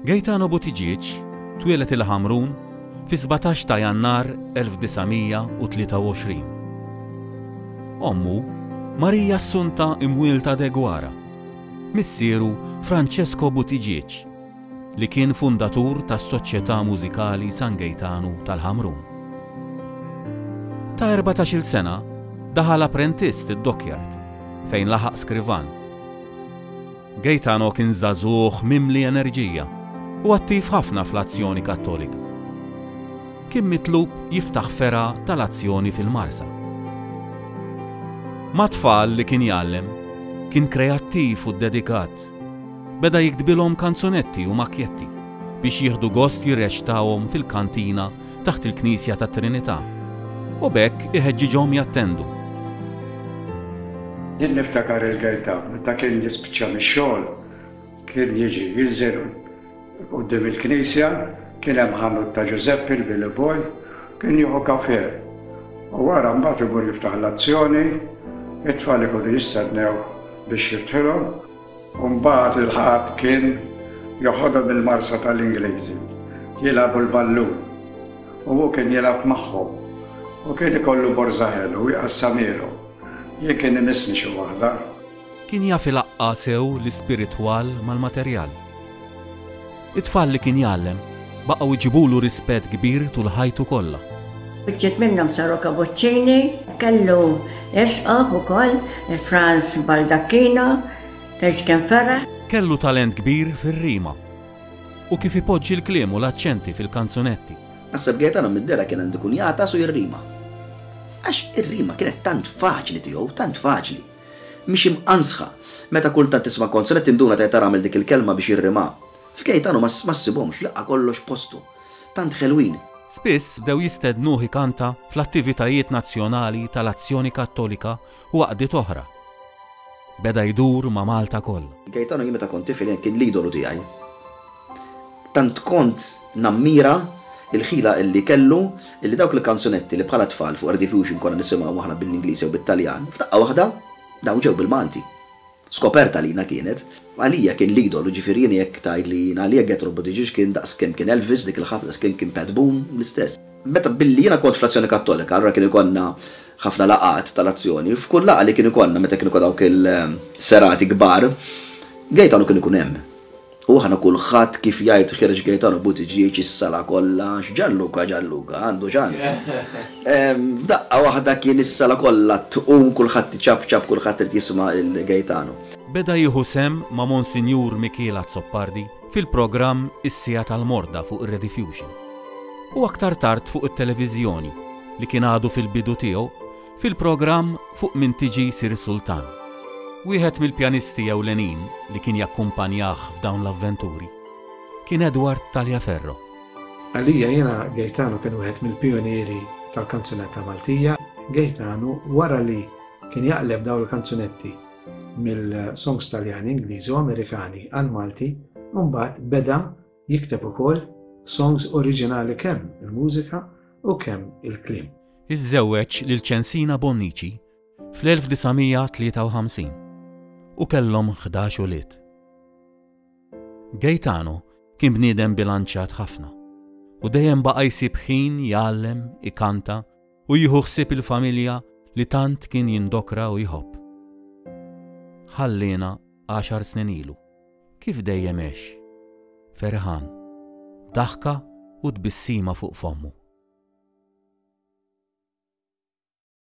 Gaetano Buttigieg twieled il-Ħamrun fis-17 ta' Jannar 1923. Ommu, Maria Assunta Imwielta Deguara, missieru Francesco Buttigieg, li kien fundatur tas-Soċjetà Mużikali San Gaetano tal-Ħamrun. Ta' erbatax-il sena daħal apprentist id-dockyard fejn laħaq skrivan. Gaetano kien żagħżugħ mimli enerġija u attiv ħafna fl-Azzjoni Kattolika. Kien mitlub jiftaħ fergħa tal-Azzjoni fil-Marsa. Mat-tfal li kien jgħallem, kien kreattiv u ddedikat. Beda jiktbilhom kanzunetti u makjetti biex jieħdu gost jirreċtawhom fil-kantina taħt il-Knisja tat-Trinità u b'hekk iħeġġiġhom jattendu. Jien niftakar il-Gaetan meta kien jispiċċa mix-xogħol kien jiġi jinżel quddiem il-Knisja, kien hemm ħanut ta' Ġużeppi l-Billy Boy, kien jieħu kafè u wara mbagħad imur jiftaħ l-azzjoni, it-tfal ikunu jistennewh biex jiftħilhom. U mbagħad il-Ħadd kien joħodhom il-Marsa tal-Ingliżi jilagħbu l-ballun u hu kien jilgħab magħhom u kien ikollu borża ħelu u jqassamhielhom. Jien kien imissni xi waħda. Kien jaf ilaqqa' sew l-ispiritwal mal-materjal. It-tfal li kien jgħallem baqgħu jġibulu rispett kbir tul ħajtu kollha. Uċċiet minnhom San Rocca Boccini. Kellu isqof ukoll Franz Baldacchino, tgħix kemm feraħ. Kellu talent kbir fir-rima u kif ipoġġi l-kliem u l-aċċenti fil-kanzunetti. Naħseb Gaetano mid-dera kien għandu jkun jagħtas u jirrima. Għax ir-rima kienet tant faċli tiegħu, tant faċli. Mhix imqanżħa. Meta kultant tisma' konsonett tinduna ta' ta' għamel dik il-kelma biex jirrimha. F'Gejtanu ma ssibhomx, laqgħa kollox postu. Tant ħelwin. Spiss bdew jistednuh ikanta fl-attivitajiet nazzjonali tal-Azzjoni Kattolika u għaqdiet oħra. Beda jdur ma' Malta kollha. Gejtanu jien meta kont tifel kien l-idolu tiegħi. Tant kont nammira l-ħila li kellu li dawk il-kanzunetti li bħala tfal fuq Radio Fusion konna nisimgħu aħna bil-Ingliż jew bit-Taljan, f'daqqa waħda dawn ġew bil-Malti. Skoperta għalina kienet. Għalija kien l-idol, jiġifieri jien jekk tgħidli jien għalija Jethro Buttigieg kien daqs kemm kien Elvis dik il-ħabta, daqs kemm kien Pat Boone, l-istess. Meta billi jiena kont fl-Azzjoni Kattolika, allura kien ikollna ħafna laqgħat tal-Azzjoni, f'kull laqgħa li kien ikollna meta kien ikollna dawk il-serati kbar, Gaetano kien ikun hemm. U aħna kulħadd kif jgħid Ħiereġ Gaetano Buttigieg is-sala kollha għax Gianluca Gianluca għandu ċans. F'daqqa waħda kien is-sala kollha tqum kulħadd iċapċap kulħadd irid jisma' lil Gaetano. Beda jieħu sehem ma' Monsinjur Mikiel Azzopardi fil-programm Is-Siegħa tal-Morda fuq ir-Rediffusion. U aktar tard fuq it-televiżjoni, li kien għadu fil-bidu tiegħu, Fil-programm Fuq Min Tiġi Ssir Sultan, wieħed mill-pjanisti ewlenin li kien jakkumpanjah f'dawn l-avventuri kien Edward Taliaferro. Għalija jiena Gaetano kien wieħed mill-pijunieri tal-kanzunetta Maltija. Gaetano wara li kien jaqleb dawn il-kanzunetti mill-songs Taljani, Ingliżi u Amerikani għall-Malti, imbagħad beda Jikteb ukoll songs oriġinali kemm il-mużika u kemm il-kliem. Iżżewweġ lil Censina Bonnici fl-1953 u kellhom ħdax ulied. Gaetano kien bniedem bilanċjat ħafna u dejjem baqa' jsib ħin jgħallem, ikanta u jieħu ħsieb il-familja li tant kien jindokra u jħobb. Ħalliena għaxar snin ilu. Kif dejjem għex. Ferħan, b'daħka u tbissima fuq fommu.